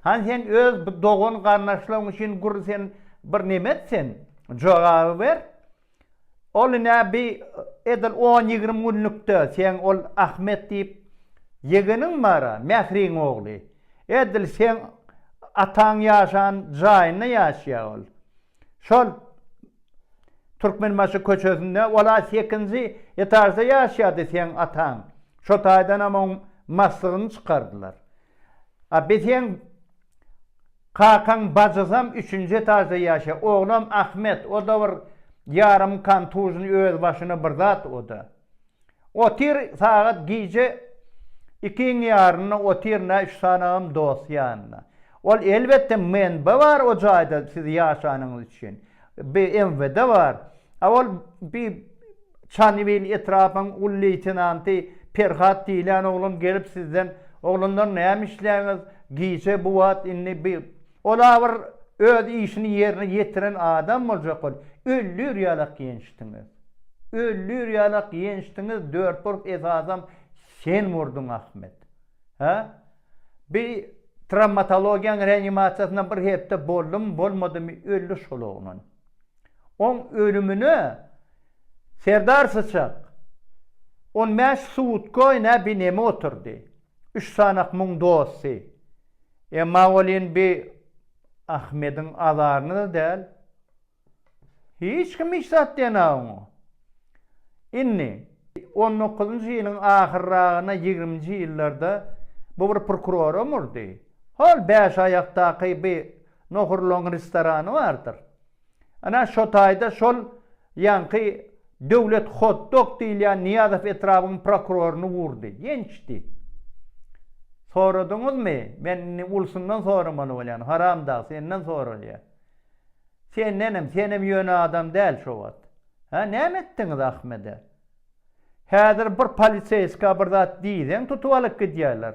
Hany sen öz bu dogan garnaşlaň üçin gür sen bir neme et sen jogaby ber ol ine bi edil on ýigrim günlükde seň ol Ahmet diýip ýegeniň bara Mähriň ogly edil seň ataň ýaşan jaýynda ýaşýa ol. Şol Türkmenbaşy köçesinde ol-a sekinji etažda ýaşaýardy seň ataň. Şo taýdanam oň maslygyny çykardylar. A bi seň kakaň bajysam üçünji etažda ýaşaýar. Oglam Ahmet, o-da bir ýarym kontuzny öz başyna bir zat o-da. Otyr sagat gije ikiň ýarynda otyr nä üç sanagam dost ýanynda. Ol elbetde menbe bar o jaýda siz ýaşanyňyz üçin. BMWde bar. A ol bi Çanybil etrapyň uly leýtenanty Perhat diýlen oglan gelip sizden oglanlar näme işleýäňiz gije bu wagt indi bi Ol-a bir öz işini ýerine ýetiren adam boljak bol, öllür ýalak ýençdiňiz. Öllür ýalak ýençdiňiz, dört urg esasam sen urduň Ahmet. Hä? Bi trawmatologiýaň reanimasiýasynda bir hepde boldumy, bolmadymy öldi şol oglan. Oň ölümine Serdar Syçak on bäş sutkoý nä bi neme oturdy. Üç sanak muň dosty. Emma welin bi Ahmediň azaryna-da däl. Hiç kim hiç zat diýen-ä oňa. Indi, on dokuzynjy ýylyň ahyrragyna ýigriminji ýyllarda bu bir prokuroram urdy. Hol bäşaýakdaky bi nohurlygyň restorany bardyr. Ana, şo taýda şol ýaňky Döwlet hot-dog diýilýän Nyýazow etrabyň prokuroryny urdy. Gençdi. Soradyňyzmy? Men indi ulusundan soramaly bolýan, haramdag, senden soralýa. Sendenem, senem ýöne adam däl şo wagt. Hä, näme etdiňiz Ahmede? Häzir bir poliseýska bir zat diýseň tutup alyp gidýärler.